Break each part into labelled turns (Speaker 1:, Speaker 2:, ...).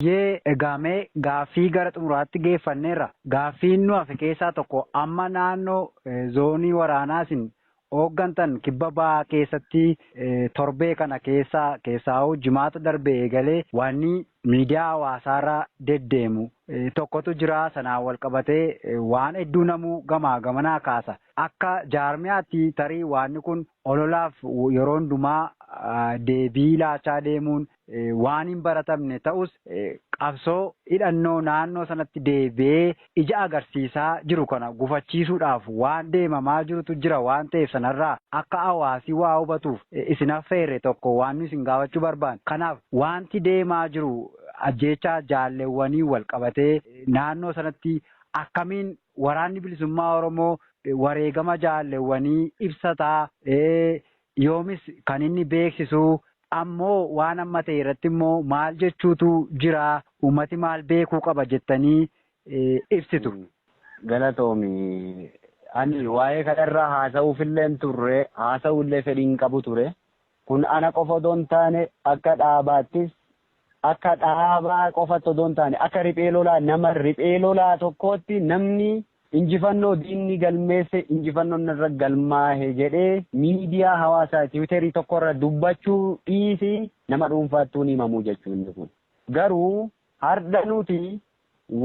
Speaker 1: Hayyee egaa mee gaaffii gara xumuraatti geeffanneerra. Gaaffiin nu hafe keessaa tokko amma naannoo zoonii waraanaa isin ooggantan kibba bahaa keessatti torbee kana keessa keessaahuu jimaata darbe eegalee waanni miidiyaa hawaasaarra deddeemu tokkotu jira. Sanaan walqabatee waan hedduu namuu gamaa gamanaa kaasa. Akka jaarmiyaatti tarii waanni kun ololaaf yeroo hundumaa deebii laachaa deemuun waan hin baratamne ta'us qabsoo hidhannoo naannoo sanatti deebi'ee ija agarsiisaa jiru kana gufachiisuudhaaf waan deemamaa jirutu jira waan ta'eef sanarraa akka hawaasi waa hubatuuf isin affeerre tokko waan nu isin gaafachuu barbaanne. Kanaaf waanti deemaa jiru ajjeechaa jaalleewwaniin wal qabatee naannoo sanatti akkamiin Waraanni Bilisummaa Oromoo wareegama jaalleewwanii ibsataa? yoomis kan inni beeksisu ammoo waan amma ta'e irratti immoo maal jechuutu jira uummati maal beekuu qaba jettanii ibsitu? Galatoomi.
Speaker 2: Ani waa'ee kanarraa haasa'uufillee hin turre, haasa'uullee fedhii hin qabu ture. Kun ana qofa odoo hin taane akka dhaabaattis akka dhaabaa qofatti odoo hin taane akka riphee lolaa nama riphee lolaa tokkootti namni Injifannoo diinni galmeesse injifannoon narra galmaahe jedhee miidiyaa hawaasaa tiwiterii tokkorra dubbachuu dhiisii nama dhuunfaattuu hin himamu jechuu inni kun. Garuu hardha nuti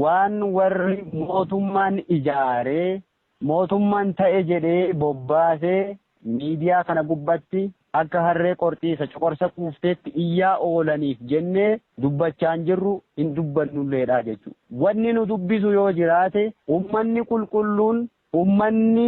Speaker 2: waan warri mootummaan ijaaree mootummaan ta'e jedhee bobbaasee miidiyaa kana gubbatti akka harree qorxiisa coqorsa quufteetti iyyaa oolaniif jennee dubbachaa hin jirru, hin dubbannulleedha jechuu dha. Wanni nu dubbisu yoo jiraate, ummanni qulqulluun, ummanni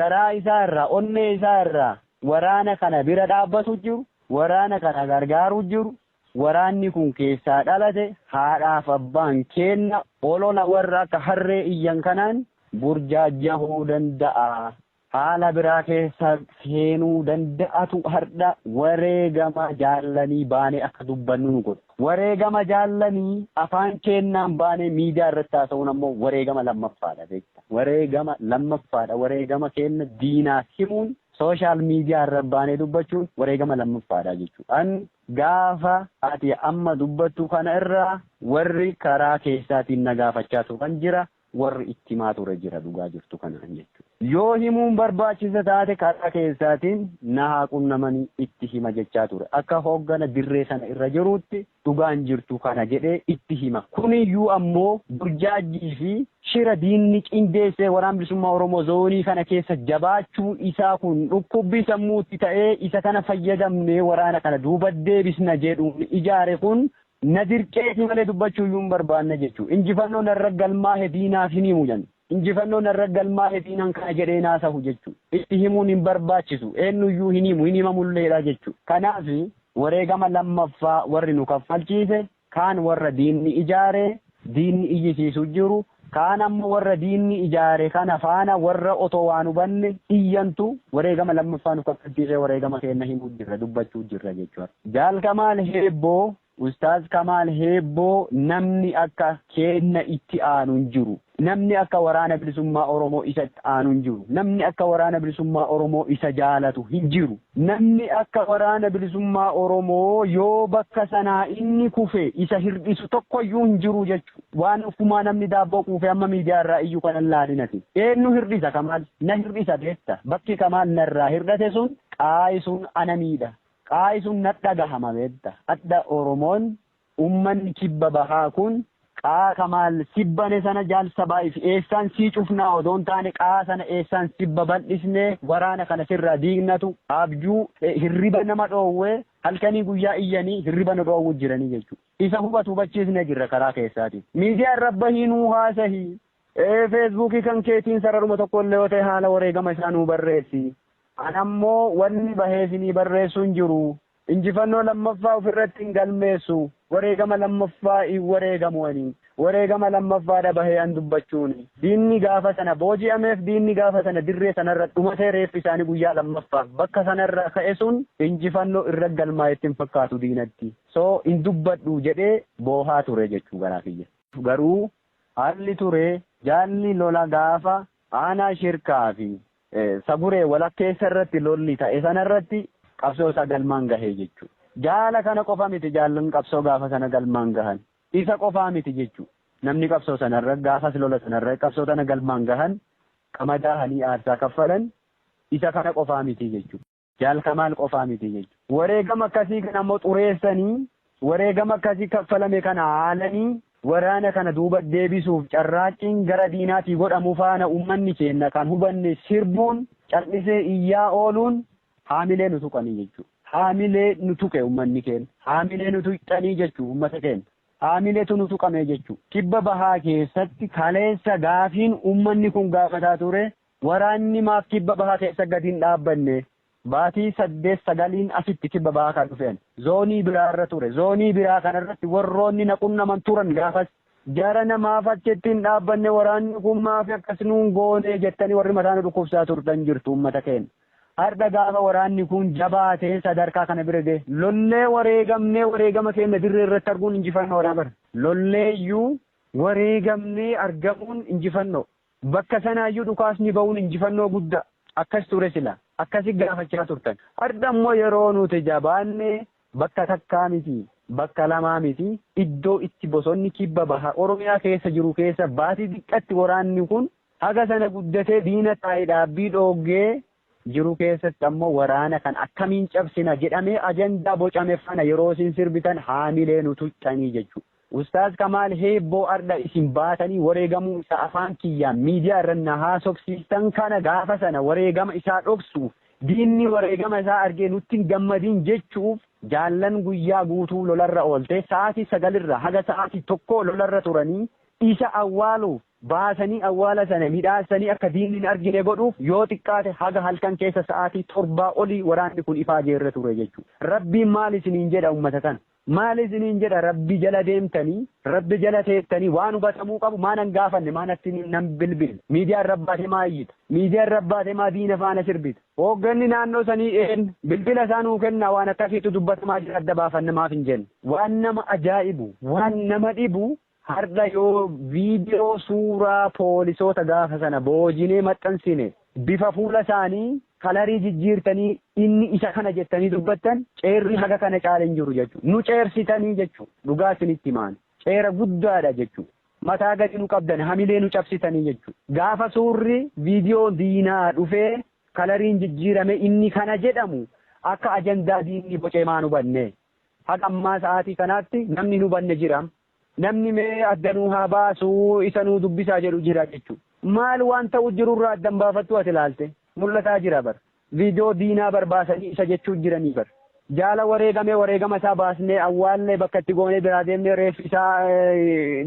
Speaker 2: garaa isaa irraa, onnee isaa irraa waraana kana bira dhaabbatu jiru, waraana kana gargaaru jiru, waraanni kun keessaa dhalate, haadhaaf abbaan keenna olola warra akka harree iyyan kanaan burjaajjahuu danda'a. Haala biraa keessa seenuu danda'atu hardha wareegama jaallanii baanee akka dubbannu nu godha. Wareegama jaallanii afaan keennaan baanee miidiyaa irratti haasa'uun ammoo wareegama lammaffaadha beekta. Wareegama lammaffaadha. Wareegama keenna diinaaf himuun social media irra baanee dubbachuun wareegama lammaffaadha jechuudha. An gaafa ati amma dubbattu kana irraa warri karaa keessaatiin na gaafachaa turan jira. warri itti himaa ture jira dhugaa jirtu kanaan jechuudha. Yoo himuun barbaachisa taate karaa keessaatiin na haa qunnamanii itti hima jechaa ture. Akka hooggana dirree sana irra jiruutti dhugaan jirtu kana jedhee itti hima. Kuniyyuu ammoo burjaajjii fi shira diinni qindeessee Waraana Bilisummaa Oromoo zoonii kana keessa jabaachuun isaa kun dhukkubbii sammuutti ta'ee isa kana fayyadamnee waraana kana duuba deebisna jedhuun ijaare kun Na dirqeetii malee dubbachuu iyyuu hin barbaanne jechuun injifannoo narra galmaa'e diinaaf hin himu jedhan. Injifannoo narra galmaa'e diinaan kana jedhee hin haasahu jechuun itti himuun hin barbaachisu eenyu iyyuu hin himu hin himamu illeedha jechuun kanaaf wareegama lammaffaa warri nu kaffalchiise kaan warra diinni ijaare diinni iyyisiisu jiru, kaan ammoo warra diinni ijaare kana faana warra otoo waa hin hubanne iyyantu wareegama lammaffaa nu kaffalchiisee wareegama keenna himuu jirra, dubbachuu jirra jechuudha. Jaal Kamaal Heebboo, Ustaaz Kamaal Heebboo namni akka keenna itti aanu hin jiru. Namni akka Waraana Bilisummaa Oromoo isa itti aanu hin jiru. Namni akka Waraana Bilisummaa Oromoo isa jaalatu hin jiru. Namni akka Waraana Bilisummaa Oromoo yoo bakka sanaa inni kufe isa hirdhisu tokkoyyuu hin jiru jechuun waan offumaa namni daabboo quufee amma miidiyaa irraa iyyu kana hin laalin ati. Eennu hirdhisa Kamaal? Na hirdhisa beekta. Bakki Kamaal narraa hirdhate sun qaayi sun ana miidha. Qaayi sun nadhagahama beekta. Adha Oromoon Ummanni kibba bahaa kun qaa kamaal sibbane sana jaal sabaa if eessaan sii cufnaa odoo hin taane qaa sana eessaan sibba baldhisnee waraana kana sirraa diignatu abjuu e hirriba nama dhoowwe halkanii guyyaa iyyanii hirriba nu dhoowwu jiranii jechuu isa hubatu hubachiisne jirra karaa keessaatiin miidiyaa irra bahii nuu haasahi e feesbuukii kan keetiin sararuma tokko illee yoo ta'e haala wareegama isaa nuu barreessi an ammoo wanni bahee isinii barreessu hin jiru Injifannoo lammaffaa of irratti hin galmeessu, wareegama lammaffaa hin wareegamu ani. Wareegama lammaffaa dha bahee an dubbachuuni. Diinni gaafa sana booji'ameef diinni gaafa sana dirree sana irra dhumatee reeffi isaanii guyyaa lammaffaaf bakka sana irraa ka'e sun injifannoo irra galmaa'e itti hin fakkaatu diinatti. So hin dubbadhu jedhee boohaa ture jechuu garaa kiyya. Garuu haalli ture jaalli lola gaafa aanaa shirkaa fi Saburee walakkeessa irratti lolli ta'e sana irratti qabsoo isaa galmaan gahe jechuudha. Jaala kana qofa miti jaallan qabsoo gaafa sana galmaan gahan. Isa qofaa miti jechuudha. Namni qabsoo sanarra gaafas lola sanarra qabsoo tana galmaan gahan qama daahanii aarsaa kaffalan isa kana qofaa miti jechuudha. Jaal Kamaal qofaa miti jechuudha. Wareegama akkasii kana ammoo xureessanii, wareegama akkasii kaffalame kana haalanii waraana kana duuba deebisuuf carraaqqiin gara diinaatii godhamu faana uummanni keenya kan hubanne sirbuun, cal'isee iyyaa ooluun haamilee nu tuqanii jechuudha. Haamilee nu tuqe uummanni keenya. Haamilee nu tuqxanii jechuudha uummata keenya. Haamileetu nu tuqame jechuudha. Kibba bahaa keessatti kaleessa gaafiin uummanni kun gaafataa ture Waraanni maaf kibba bahaa keessa gadi hin dhaabbanne? Baatii saddeet sagaliin asitti kibba bahaa kan dhufe ani. Zoonii biraa irra ture. Zoonii biraa kana irratti warroonni na qunnaman turan gaafas. Jarana maaf achitti hin dhaabbanne waraanni kun maaf akkas nuun goone jettanii warri mataa nu dhukkubsaa turtan jirtu uummata keenya. Hardha gaafa waraanni kun jabaatee sadarkaa kana bira gahe. Lollee wareegamnee wareegama keenya dirree irratti arguun injifannoodha bar. Lollee iyyuu wareegamnee argamuun injifannoo. Bakka sanaayyuu dhukaasni ba'uun injifannoo guddaa. Akkas ture sila. Akkasi gaafachaa turtan. Hardha immoo yeroo nuti jabaanne bakka takkaa miti, bakka lamaa miti, iddoo itti bosonni kibba baha Oromiyaa keessa jiru keessa baatii xiqqatti waraanni kun haga sana guddatee diina taa'e dhaabbii dhooggee jiru keessatti ammoo waraana kana akkamiin cabsina jedhamee ajandaa bocame faana yeroo isin sirbitan haamilee nu tuqxanii jechuudha. Ustaaz Kamaal Heebboo ardha isin baatanii wareegamuu isaa afaan kiyyaan miidiyaa irra na haasofsiistan kana gaafa sana wareegama isaa dhoksuuf diinni wareegama isaa argee nutti hin gammadin jechuuf jaallan guyyaa guutuu lolarra oolte sa'aatii sagalirraa haga sa'aatii tokkoo lolarra turanii isa awwaaluuf baasanii awwaala sana midhaassanii akka diinni hin argine godhuuf yoo xiqqaate haga halkan keessa sa'aatii torbaa olii waraanni kun ifaajee irra ture jechuudha. Rabbiin maal isiniin jedha ummata kana? Maal isiniin jedha Rabbi jala deemtanii, Rabbi jala teettanii waan hubatamuu qabu maa nan gaafanne, maa natti nan bilbille, miidiyaa irra baate maa iyyita, miidiyaa irra baate maa diina faana sirbita, hoogganni naannoo sanii eenyu, bilbila isaa nuu kennaa waan akkasiitu dubbatamaa jira adda baafanna maaf hin jenne. Waan nama ajaa'ibu, waan nama dhibu Hardha yoo viidiyoo suuraa poolisoota gaafa sana boojinee maxxansine bifa fuula isaanii kalarii jijjiirtanii inni isa kana jettanii dubbattan ceerri haga kana caale hin jiru jechuudha. Nu ceersitanii jechuudha. Dhugaa isinitti himaani. Ceera guddaadha jechuudha. Mataa gadi nu qabdani hamilee nu cabsitanii jechuudha. Gaafa suurri viidiyoon diinaa dhufee kalariin jijjiirame inni kana jedhamu akka ajandaa diinni bocee maan hubannee? Haga ammaa sa'aatii kanaatti namni hin hubanne jira. Namni mee adda nuu haa baasu, isa nuu dubbisaa jedhu jira jechu. Maal waan ta'u jiru irraa adda hin baafattu ati ilaalte. Mul'ataa jira bar. Viidiyoo diinaa bar baasanii isa jechuu jiranii bar. Jaala wareegame wareegama isaa baasnee awwaalle bakka itti goonee biraa deemnee reeffi isaa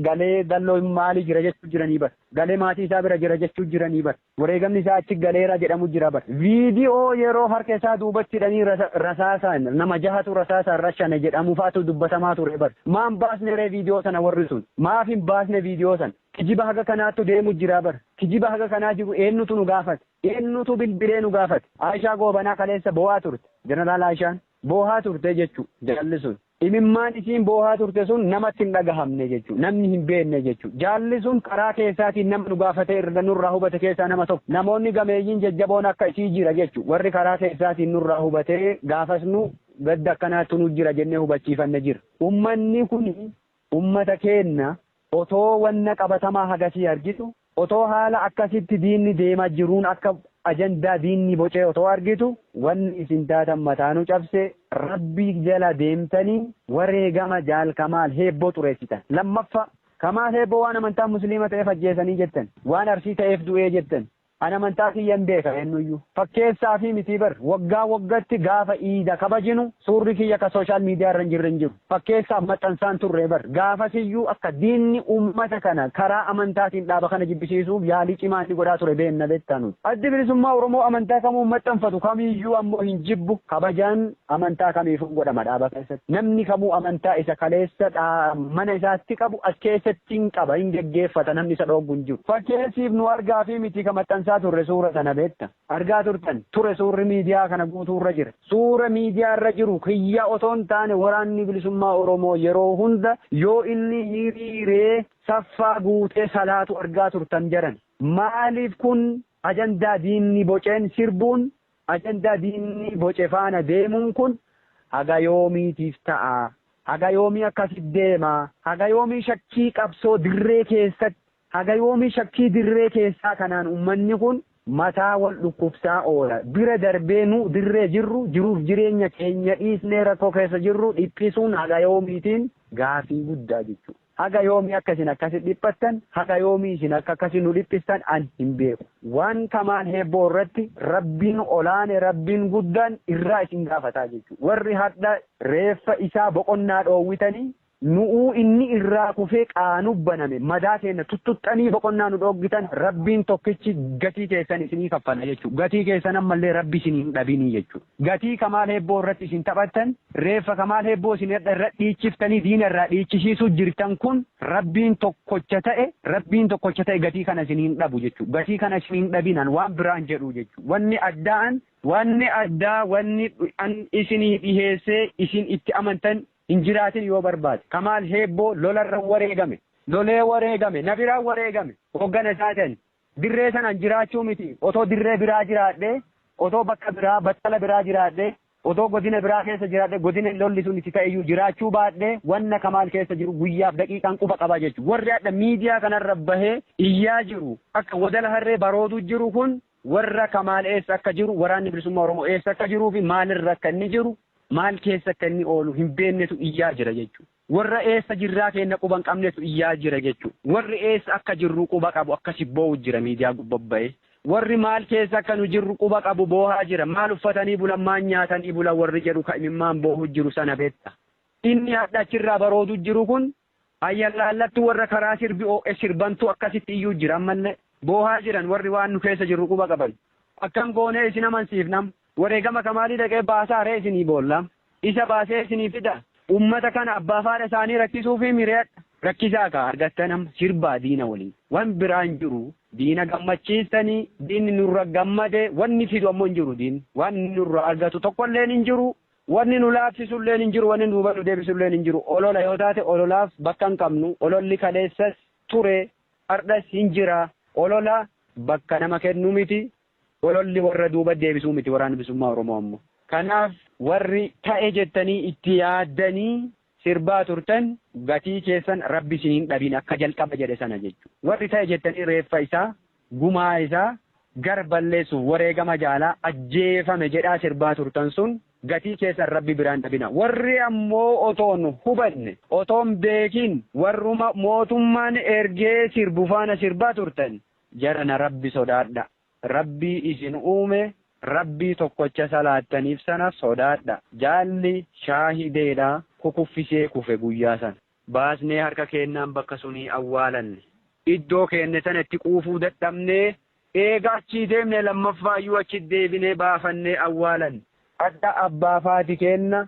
Speaker 2: galee dalloo maali jira jechuu jiranii bar. Galee maatii isaa bira jira jechuu jiranii bar. Wareegamni isaa achi galeera jedhamu jira bar. Viidiyoo yeroo harka isaa duubatti hidhanii rasaasaan nama jahatu rasaasaan rashane jedhamu faatu dubbatamaa ture bar. Maa hin baasne ree viidiyoo sana warri sun? Maaf hin baasne viidiyoo sana? Kijiba haga kanaattu deemu jira bar. Kijiba haga kanaa jiru eennutu nu gaafate? Eennutu bilbilee nu gaafate? Aayishaa Goobanaa kaleessa boo'aa turte. Jeneraal Aayishaan boohaa turte jechuu jaalli sun. Imimmaan isiin boohaa turte sun namatti hin dhagahamne jechu. Namni hin beenne jechu. Jaalli sun karaa keessaatiin nama nu gaafate irra nurraa hubate keessaa nama tokko. Namoonni gameeyyiin jajjaboon akka isii jira jechu. Warri karaa keessaatiin nurraa hubate gaafas nu gadda akkanaattu nu jira jennee hubachiifanne jira. Ummanni kun Ummata keenna otoo wanna qabatamaa hagasii argitu, otoo haala akkasitti diinni deema jiruun akka ajandaa diinni bocee otoo argitu, wanni isin taatan mataa nu cabse, Rabbi jala deemtanii wareegama Jaal Kamaal Heebboo xureessitan. Lammaffaa, Kamaal Heebboo waan amantaan Musliima ta'eef ajjeesanii jettan, waan Arsii ta'eef du'ee jettan, An amantaa kiyyan beeka eennuyyuu fakkeessaafi mitii bar waggaa waggatti gaafa iida kabajinu suurri kiyya ka social media irra hin jirre hin jiru fakkeessaaf maxxansaan turre bar gaafasiyyuu akka diinni ummata kana karaa amantaatiin dhaaba kana jibbisiisuuf yaalii cimaa inni godhaa ture beenna beektaa nuti addi bilisummaa oromoo amantaa kamuu maxxanfatu kamiyyuu ammoo hin jibbu kabajaan Amantaa kamiifuu godhama dhaaba keessatti. Namni kamuu amantaa isa kaleessa mana isaatti qabu as keessatti hin qaba, hin geggeeffata, namni isa dhooggu hin jiru. Fakkeessiif nu argaafii miti ka maxxansaa turre suura sana beekta. Argaa turtan, ture suurri miidiyaa kana guutuu irra jira. Suura miidiyaa irra jiru kiyya otoo hin taane Waraanni Bilisummaa Oromoo yeroo hunda yoo inni hiriiree saffaa guutee salaatu argaa turtan jaran. Maaliif kun ajandaa diinni boceen sirbuun Ajandaa diinni boce faana deemuun kun haga yoomiitiif ta'a? Haga yoomii akkasi deema? Haga yoomii shakkii qabsoo dirree keessatti, haga yoomii shakkii dirree keessaa kanaan ummanni kun mataa wal dhukkubsaa oola? Bira darbee nu dirree jirru, jiruuf jireenya keenya dhiisnee rakkoo keessa jirru dhiphisuun haga yoomiitiin? Gaafii guddaa jechuudha. Haga yoomii akka isin akkasi dhiphattan, haga yoomii isin akka akkasi nu dhiphistan ani hin beeku. Waan kamaan heebboo irratti Rabbiin olaane, Rabbiin guddaan irraa isin gaafataa jechu. Warri hardha reeffa isaa boqonnaa dhoowwitanii, nu'uu inni irraa kufee qaanuf baname, madaa keenna tuttuxxanii boqonnaa nu dhooggitan, Rabbiin tokkichi gatii teessan isinii kaffala jechu. Gatii keessan ammallee Rabbi isinii hin dhabinii jechu. Gatii kamaal heebboo irratti isin taphattan, Reeffa Kamaal Hebboo isin hadha irra dhiichiftanii diina irraa dhiichisiisuu jirtan kun Rabbiin tokkocha ta'e Rabbiin tokkocha ta'e gatii kana isin hin dhabu jechuu gatii kana isin hin dhabin an waan biraan jedhuu jechuu wanni addaa an wanni addaa wanni an isinii dhiheessee isin itti amantan hin jiraatin yoo barbaade Kamaal Hebboo lolarra wareegame lolee wareegame na biraa wareegame hoggana isaatan dirree sanaan jiraachuu miti otoo dirree biraa jiraadhee otoo bakka biraa battala biraa jiraadhee Otoo godina biraa keessa jiraadhee godina lolli sun itti ta'eyyuu jiraachuu baadhee wanna Kamaal keessa jiru guyyaaf daqiiqaan quba qaba jechu. Warri hadha miidiyaa kanarra bahee iyyaa jiru akka wadala harree barooduu jiru kun warra Kamaal eessa akka jiru waraanni bilisummaa Oromoo eessa akka jiruufi maalirra akka inni jiru maal keessa akka inni oolu hin beennetu iyyaa jira jechuudha. Warra eessa jirraa keenna quba hin qabnetu iyyaa jira jechu. Warri eessa akka jirru quba qabu akkasi boowu jira miidiyaa gubba ba'ee. Warri maal keessa akka nu jirru quba qabu boohaa jira. Maal uffatanii bulan maal nyaatanii bulan warri jedhu ka imimmaan boohu jiru sana beetta. Inni hadha achirraa baroodu jiru kun ayyallaallattu warra karaa sirbi oo'e sirbantu akkasitti iyyuu jira ammallee. Boohaa jiran warri waan nu keessa jirru quba qaban. Akkam goonee isin amansiifna amma? Wareegama kamaalii dhaqee baasaa ree isinii boolla Isa baasee isinii fida Ummata kana abbaa faadha isaanii rakkisuufii miriyadha rakkisaa kaa argattan amma sirbaa diina waliin wan biraa hin jiru diina gammachiistanii diinni nurra gammade wanni fidu ammoo hin jiru diinni waan inni nurraa argatu tokkolleen hin jiru wanni nu laaffisulleen hin jiru wanni duuba nu deebisulleen hin jiru olola yoo taate ololaaf bakka hin qabnu ololli kaleessas ture hardhas hin jira olola bakka nama kennu miti Ololli warra duuba deebisuu miti Waraanni Bilisummaa Oromoo ammoo. Kanaaf warri ta'e jettanii itti yaaddanii sirbaa turtan gatii keessan Rabbi isin hin dhabin akka jalqaba jedhe sana jechu. Warri ta'e jettanii reeffa isaa, gumaa isaa, gar balleessuuf wareegama jaalaa ajjeefame jedhaa sirbaa turtan sun gatii keessan Rabbi biraa hin dhabina. Warri ammoo otoon hubanne, otoon beekin warruma mootummaan ergee sirbu faana sirbaa turtan Jarana rabbi sodaadha rabbii isin uume rabbii tokkocha salaattaniif sana sodaadha jaalli shaahideedha kukuffisee kufe guyyaa sana baasnee harka keennaan bakka sunii awwaalanne iddoo keenne sana itti quufuu dadhabnee eega achii deemne lammaffaayyuu achi deebinee baafannee awwaalanne adda abbaa faati keenna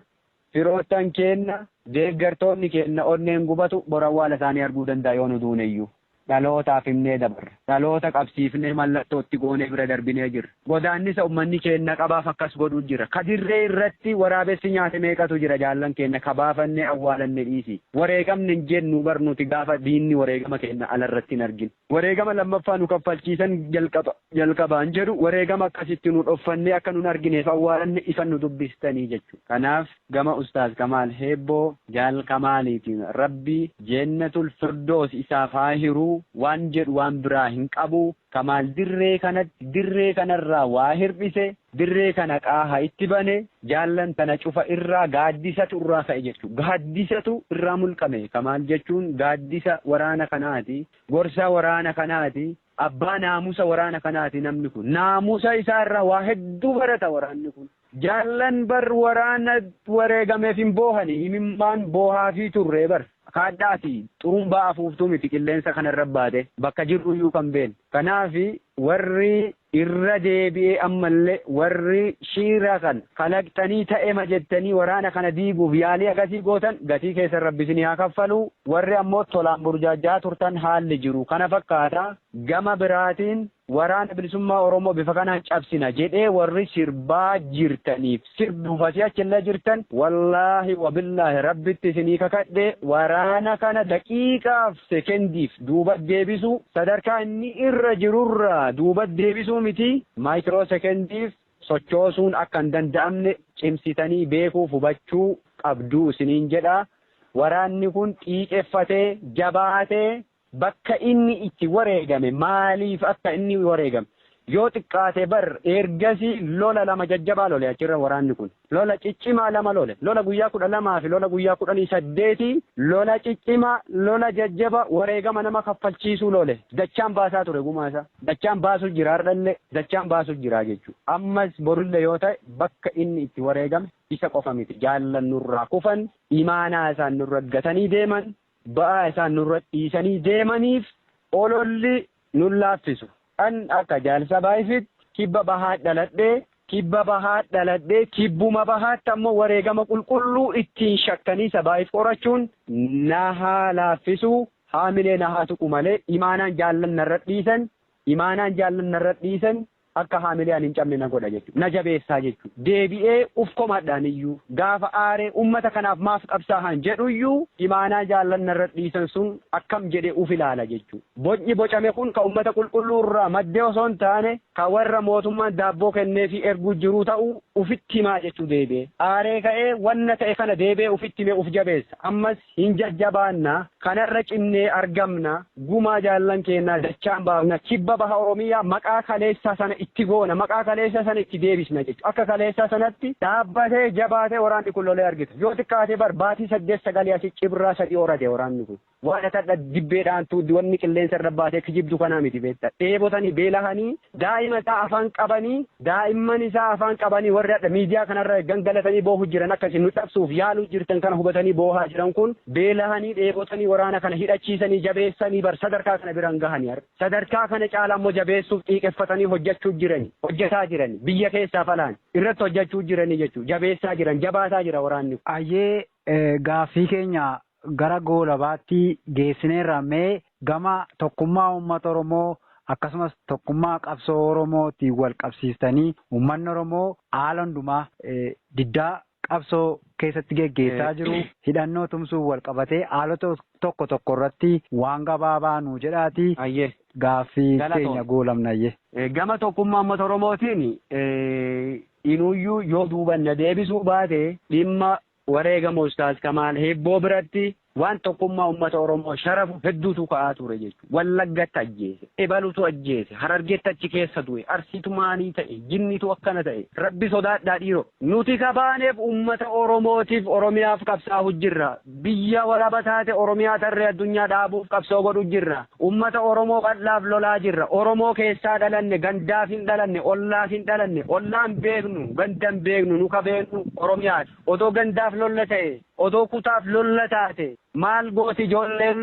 Speaker 2: Firoottan keenna, deeggartoonni keenna onneen gubatu bor awwaala isaanii arguu danda'a yoo nu duuneyyuu. Dhalootaaf himnee dabarra. Dhaloota qabsiifnee mallattoo itti goonee bira darbinee jirra. Godaannisa ummanni keenna qabaaf akkas godhu jira. Ka dirree irratti waraabessi nyaate meeqatu jira jaallan keenna ka baafannee awwaalanne dhiisii. Wareegamne hin jennu bar nuti gaafa diinni wareegama keenna ala irratti hin argin. Wareegama lammaffaa nu kaffalchiisan jalqaba jalqabaan jedhu wareegama akkas itti nu dhoffannee akka nun argineef awwaalanne isan nu dubbistanii jechuudha. Kanaaf gama Ustaaz Kamaal Heebboo, Jaal Kamaaliitiin Rabbi Jeennatul Firdoos isaaf haa hiru waan jedhu waan biraa hin qabu. Kamaal dirree kanatti dirree kanarraa waa hirdhise, Dirree kana qaaha itti bane, jaallan tana cufa irraa gaaddisatu irraa ka'e jechu. Gaaddisatu irraa mulqame ka maal jechuun gaaddisa waraana kanaati, gorsa waraana kanaati, abbaa naamusa waraana kanaati namni kun. Naamusa isaa irraa waa hedduu barata waraanni kun. Jaallan bar waraana wareegameef hin boohani, imimmaan boohaafii turre bar. Kaadhaa fi xurumbaa afuuftuu miti qilleensa kana irra baate, bakka jirru iyyuu kan beenne. Kanaaf warri Irra deebi'ee ammallee warri shiira kan kalaqxanii ta'ema jettanii waraana kana diiguuf yaalii akasii gootan gatii keessan rabbi isinii haa kaffalu, warri ammoo tolaan burjaajja'aa turtan haalli jiru kana fakkaata, gama biraatiin waraana bilisummaa oromoo bifa kanaan cabsina jedhee warri sirbaa jirtaniif sirbuuf asii achillee jirtan wallaahi wabillaahi rabbitti isinii kakadhe waraana kana daqiiqaaf sekendiif duuba deebisuu sadarkaa inni irra jirurraa duuba deebisuu miti maaykiroo sekendiif sochoosuun akka hin danda'amne cimsitanii beekuuf hubachuu qabduu isiniin jedha waraanni kun xiiqeffatee jabaatee Bakka inni itti wareegame, maaliif akka inni wareegame, yoo xiqqaate bar ergasii lola lama jajjabaa lole achirra waraanni kun. Lola ciccimaa lama lole. Lola guyyaa 12 fi lola guyyaa 18 lola ciccimaa, lola jajjaba wareegama nama kaffalchiisuu lole. Dachaan baasaa ture gumaa isaa. Dachaan baasu jira hardhallee. Dachaan baasu jira jechuu. Ammas borullee yoo ta'e bakka inni itti wareegame isa qofa miti. Jaallan nurraa kufan, imaanaa isaan nurra gatanii deeman, ba'aa isaan nurra dhiisanii deemaniif ololli nun laaffisu. An akka Jaal Sabaayifiitti Kibba Bahaat dhaladhe, Kibba Bahaat dhaladhe, Kibbuma Bahaatti ammoo wareegama qulqulluu ittiin shakkanii Sabaayif horachuun na haa laaffisu, haamilee na haa tuqu malee imaanaan jaallan narra dhiisan Imaanaan jaallan narra dhiisan akka haamilee ani hin cabne na godha jechuudha. Na jabeessaa jechuudha. Deebi'ee uf komadha aniyyuu. Gaafa aaree ummata kanaaf maaf qabsaahan jedhuyyuu imaanaa jaallan narra dhiisan sun akkam jedhee uf ilaala jechuudha. Bocni bocame kun ka ummata qulqulluu irraa madde osoo hin taane ka warra mootummaan daabboo kenneefii erguu jiruu ta'uu ufitti himaa jechuu deebi'ee aaree ka'ee wanna ta'e kana deebi'ee ufitti himee uf jabeessa. Ammas Hin jajjabaanna, kanarra cimnee argamna, gumaa jaallan keennaa dachaan baafna, kibba baha Oromiyaa maqaa kaleessaa sana itti goona, maqaa kaleessaa sana itti deebisna jechuudha. Akka kaleessaa sanatti dhaabbatee, jabaatee waraanni kun lolee argita. Yoo xiqqaate bar baatii saddeet sagalii asi cibraa sadii horate waraanni kun. Waan ati hadha dibbee dhaantu, wanni qilleensa irra baatee kijibdu kana miti beekta. Dheebotanii, beelahanii, Daa'ima isaa afaan qabanii daa'imman isaa afaan qabanii warri hadha miidiyaa kanarra gangalatanii boohu jiran akka isin nu cabsuuf yaaluu jirtan kana hubatanii boohaa jiran kun beelahanii dheebotanii waraana kana hidhachiisanii jabeessanii bar sadarkaa kana biraan gahanii har sadarkaa kana caalaa immoo jabeessuuf xiiqeffatanii hojjechuu jirani hojjetaa jirani biyya keessaaf alaan irratti hojjechuu jiranii jechuu jabeessaa jiran jabaataa jira waraanni Ayyee
Speaker 1: gaaffii keenya gara goolabaatti geessineerra mee Gama tokkummaa uummata Oromoo akkasumas tokkummaa qabsoo Oromootiin wal qabsiistanii uummanni Oromoo haala hundumaa diddaa qabsoo keessatti geggeessaa jiru hidhannoo tumsuun wal qabatee haalota tokko tokko irratti waan gabaabaa nuu jedhaatii Hayyee. gaaffii Galatoom. keenya goolabna hayyee. Eh, Gama tokkummaa
Speaker 2: uummata Oromootiin eh, inuyyuu yoo duuban na deebisuu baate dhimma Wareegama Ustaaz Kamaal Hiibboo biratti waan tokkummaa ummata Oromoo sharafu hedduutu ka'aa ture jechuudha. Wallaggatti ajjeese, ebalutu ajjeese, Harargeetti achi keessa du'e, Arsiitu maalii ta'e, jinniitu akkana ta'e. Rabbi sodaadhaa dhiiroo! Nuti ka baaneef ummata Oromootiif, Oromiyaaf qabsaa'u jirra. Biyya walaba taate Oromiyaa tarree addunyaa dhaabuuf qabsoo godhu jirra. Ummata Oromoo bal'aaf lolaa jirra. Oromoo keessaa dhalanne, gandaaf hin dhalanne, ollaaf hin dhalanne. Ollaa hin beeknu, ganda hin beeknu, nu ka beeknu Oromiyaa dha. Odoo gandaaf lolla ta'ee, odoo kutaaf lolla taatee maal gooti ijoolleen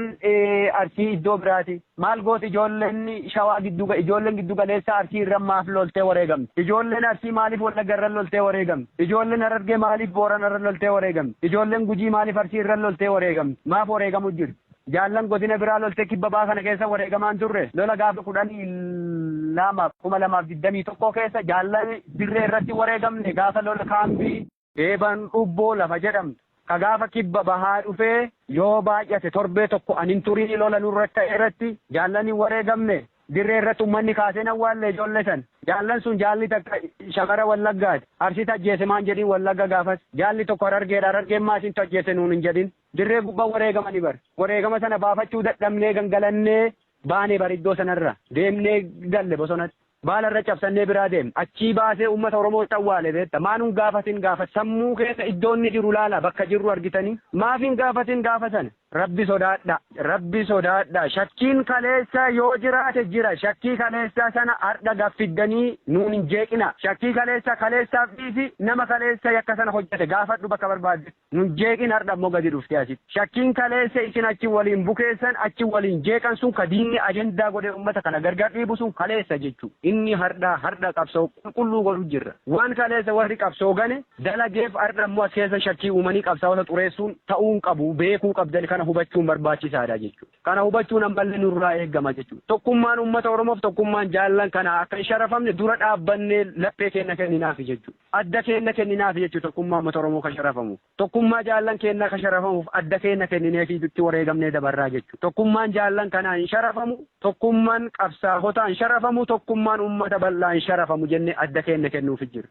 Speaker 2: Arsii iddoo biraatii? Maal gooti ijoolleen Shawaa giddu, ijoolleen giddu galeessaa Arsii irra maaf loltee wareegamti? Ijoolleen Arsii maaliif Wallagga irra loltee wareegamti? Ijoolleen Harargee maaliif Boorana irra loltee wareegamti? Ijoolleen Gujii maaliif Arsii irra loltee wareegamti? Maaf wareegamu jirti? Jaallan godina biraa loltee kibba baha kana keessa wareegamaa hin turre. Lola gaafa 12, 2021 keessa jaallan dirree irratti wareegamne gaafa lola kaambii. Eeban Ubboo lafa jedhamtu ka gaafa kibba bahaa dhufee yoo baay'ate torbee tokko an hin turin lola nurra ka'e irratti jaallan hin wareegamne. Dirree irratti ummanni kaasee hin awwaalle ijoollee san. Jaallan sun jaalli takka shamara Wallaggaati. Arsiitu ajjeese maan jedhin Wallagga gaafas. Jaalli tokko Harargeedha Harargeen maa isintu ajjeese nuun hin jedhin. Dirree gubbaa wareegamani bar. Wareegama sana baafachuu dadhabnee gangalannee baane bar iddoo sanarra. Deemnee galle bosonatti. Baala irra cabsannee biraa deemne. Achii baasee uummata Oromootti awwaale beekta. Maa nun gaafatin gaafa sammuu keessa iddoo inni jiru laalaa bakka jirru argitanii. Maaf hin gaafatin gaafa sana. Rabbi sodaadhaa. Rabbi sodaadhaa. Shakkiin kaleessaa yoo jiraate jira. Shakkii kaleessaa sana hardha gad fiddanii nuun hin jeeqinaa. Shakkii kaleessaa kaleessaaf dhiisi nama kaleessa yakka sana hojjete gaafadhu bakka barbaaddetti. Nun jeeqin hardha immoo gadi dhuftee asitti. Shakkiin kaleessa isin achi waliin bukeessan, achi waliin jeeqan sun ka diinni ajandaa godhee ummata kana gargar dhiibu sun kaleessa jechuu. Inni hardhaa, hardha qabsoo qulqulluu godhu jirra. Waan kaleessa warri qabsoo gane dalageef hardha immoo as keessa shakkii uumanii qabsaawota xureessuun ta'uu hin qabu. Beekuu qabdan kana hubachuun barbaachisaadha jechuu. Kana hubachuun ammallee nurraa eegama jechuu. Tokkummaan ummata Oromoof tokkummaan jaallan kanaa akka hin sharafamne dura dhaabbannee laphee keenna kenninaafi jechuu. Adda keenna kenninaafi jechuun tokkummaa ummata Oromoo ka sharafamu. Tokkummaa jaallan keennaa ka sharafamuuf adda keenna kennineefiitu itti wareegamnee dabarraa jechuudha. Tokkummaan jaallan kanaa hin sharafamu, tokkumman qabsaahotaa hin sharafamu, tokkummaan ummata bal'aa hin sharafamu jennee adda keenna kennuufi jirra.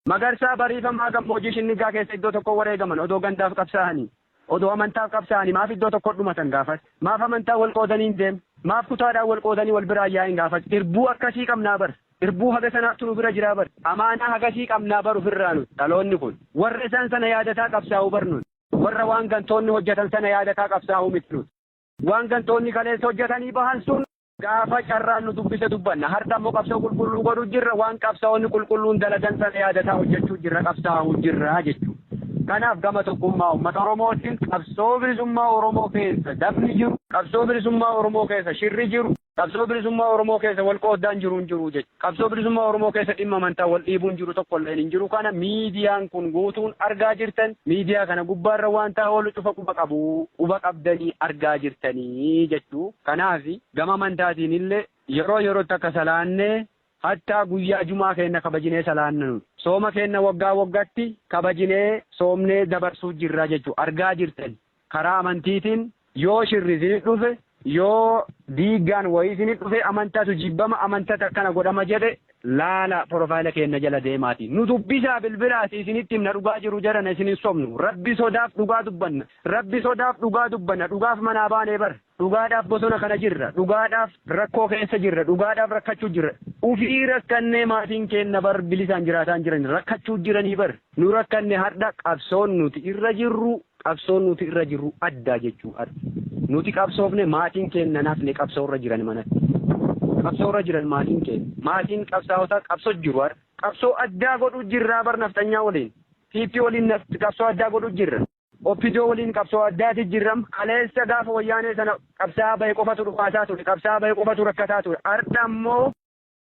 Speaker 2: Magarsaa, Bariifamaa, Gammoojii Shinniggaa keessa iddoo tokkoo wareegaman odoo gandaaf qabsaahanii. Odoo amantaaf qabsaa'anii maaf iddoo tokkotti dhumatan gaafas? Maaf amantaan wal qoodanii hin deemne? Maaf kutaadhaan wal qoodanii wal biraa hin yaa'in gaafas? Irbuu akkasii qabnaa bar! Irbuu haga sanaattu nu bira jiraa bar! Amaanaa hagasii qabnaa bar ufirraa nuti, dhaloonni kun. Warra isaan sana yaadataa qabsaa'u bar nuti. Warra waan gantoonni hojjatan sana yaadataa qabsaa'u miti nuti. Waan gantoonni kaleessa hojjatanii bahan sun. Gaafa carraan nu dubbise dubbanna. Hardha immoo qabsoo qulqulluu godhu jirra. Waan qabsaa'onni qulqulluun dalagan sana yaadataa hojjechuu jirra, qabsaa'uu jirra jechuu. Kanaaf gama tokkummaa uummata Oromootiin qabsoo bilisummaa Oromoo keessa dabni jiru, qabsoo bilisummaa Oromoo keessa shirri jiru, qabsoo bilisummaa Oromoo keessa wal qooddaan jiru hin jiru jechuudha. Qabsoo bilisummaa Oromoo keessa dhimma amantaan wal dhiibuun jiru tokko illeen hin jiru kana miidiyaan kun guutuun argaa jirtan miidiyaa kana gubbaarra waantaa oolu cufa quba qabu quba qabdanii argaa jirtanii jechuu kanaaf gama amantaatiin illee yeroo yerootti akka salaannee hattaa guyyaa jumaa keenna kabajinee salaanna nuti sooma keenna waggaa waggatti kabajinee soomnee dabarsuu jirra jechuu argaa jirtan Karaa amantiitiin yoo shirri isinit dhufe, yoo diiggaan wayii isinit dhufe, amantatu jibbama, amantatu akkana godhama jedhe, laalaa porofaayila keenna jala deemaati. Nu dubbisaa bilbilaati isinitti himna dhugaa jiru jarana isin hin sobnu. Rabbi sodaaf dhugaa dubbanna. Rabbi sodaaf dhugaa dubbanna. Dhugaaf manaa baanee bar. Dhugaadhaaf bosona kana jirra. Dhugaadhaaf rakkoo keessa jirra. Dhugaadhaaf rakkachuu jirra. Ufii rakkannee maatiin keenna bar bilisaan jiraataa hin jirani. Rakkachuu jiranii bar. Nu rakkanne hardha qabsoon nuti irra jirru qabsoon nuti irra jirru adda jechuu hardha. Nuti qabsoofne maatiin keenna hin hafne qabsoo irra jiran manatti. Qabsoo irra jiran maatiin keenna. Maatiin qabsaa'otaa qabsoo jiru hardha. Qabsoo addaa godhuu jirraa bar nafxanyaa waliin. PP waliin qabsoo addaa godhuu jirra. Opdo waliin qabsoo addaati jirram. Kaleessa gaafa wayyaanee sana qabsaa'aa bahe qofatu dhukaasaa ture. Qabsaa'aa bahe qofatu rakkataa ture. Ardha immoo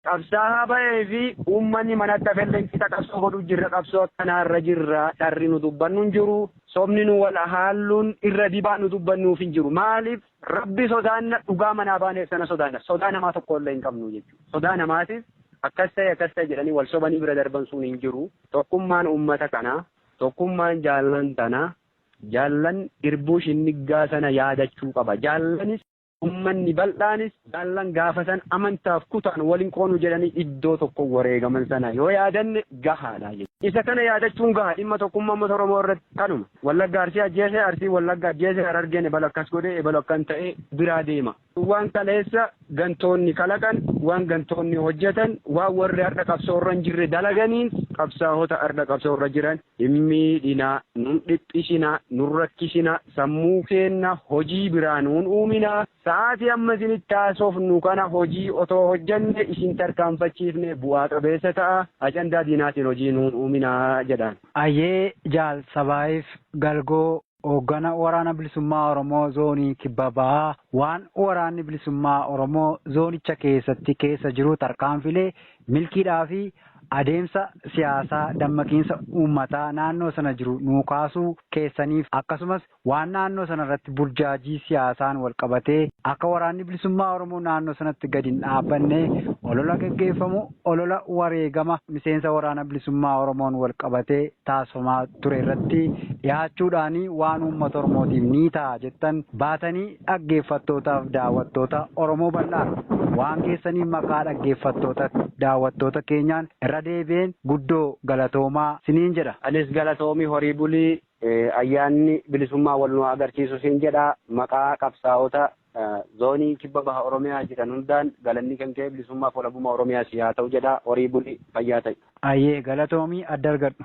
Speaker 2: qabsaa'aa bahee fi uummanni manatti hafelleen qixa qabsoo godhu jirra. Qabsoo akkanaa irra jirra. Dharri nu dubbannu hin jiru. Sobni nu wal haalluun irra dibaa nu dubbannuuf hin jiru. Maaliif Rabbi sodaanna dhugaa manaa baaneef sana sodaanna. Sodaa namaa tokko illee hin qabnu jechuudha. Sodaa namaatiif akkas ta'e akkas ta'e jedhanii wal sobanii bira darban sun hin jiru. Tokkummaan uummata kanaa Tokkummaan jaallan tanaa, jaallan irbuu shinniggaa sana yaadachuu qaba. Jaallanis, ummanni bal'aanis, jaallan gaafa sana amantaaf kutaan wal hin qoonu jedhanii iddoo tokko wareegaman sana yoo yaadanne gahaadha jechuudha. Isa kana yaadachuun gaha. Dhimma tokkummaa ummata Oromoo irratti kanuma. Wallagga Arsii ajjeese, Arsiin Wallagga ajjeese, Harargeen ebalu akkas godhe, ebalu akkan ta'e biraa deema. Waan kaleessa gantoonni kalaqan, waan gantoonni hojjetan, waan warri har'a qabsoo irra hin jirre dalaganiin qabsaahota har'a qabsoo irra jiran hin miidhinaa, nun dhiphisinaa, nun rakkisinaa, sammuu keenna hojii biraa nuun uuminaa, sa'aatii amma isinitti haasofnu kana hojii otoo hojjenne isin tarkaanfachiifne bu'aa qabeessa ta'a, ajandaa diinaatiin hojii nuun uuminaa jedhaan. Ayyee Jaal
Speaker 1: Sabaayiif Galgoo. Hooggana Waraana Bilisummaa Oromoo Zoonii Kibba Bahaa waan Waraanni Bilisummaa Oromoo zoonicha keessatti keessa jiru tarkaanfiilee milkiidhaa fi adeemsa siyaasaa dammaqiinsa uummataa naannoo sana jiru nuu kaasuu keessaniif akkasumas waan naannoo sana irratti burjaajii siyaasaan wal qabatee akka Waraanni Bilisummaa Oromoo naannoo sanatti gadi hin dhaabbanne olola gaggeeffamu Olola wareegama miseensa Waraana Bilisummaa Oromoon walqabatee taasifamaa ture irratti dhihaachuudhaan waan uummata Oromootiif ni ta'a jettan baatanii dhaggeeffattootaaf daawwattoota Oromoo bal'aaf waan geessaniif maqaa dhaggeeffattoota daawwattoota keenyaan irra deebi'een guddoo galatoomaa siniin jedha. Anis galatoomi
Speaker 2: horii buli Ayyaanni bilisummaa wal nu haa agarsiisu siin jedha. Maqaa qabsaa'ota Zoonii Kibba Baha Oromiyaa jiran hundaan galanni kan kee bilisummaaf walabummaa Oromiyaa
Speaker 1: sii haa
Speaker 2: ta'u jedha. Horii
Speaker 1: buli,
Speaker 2: fayyaa ta'i. Ayyee galatoomi
Speaker 1: adda
Speaker 2: argadhu.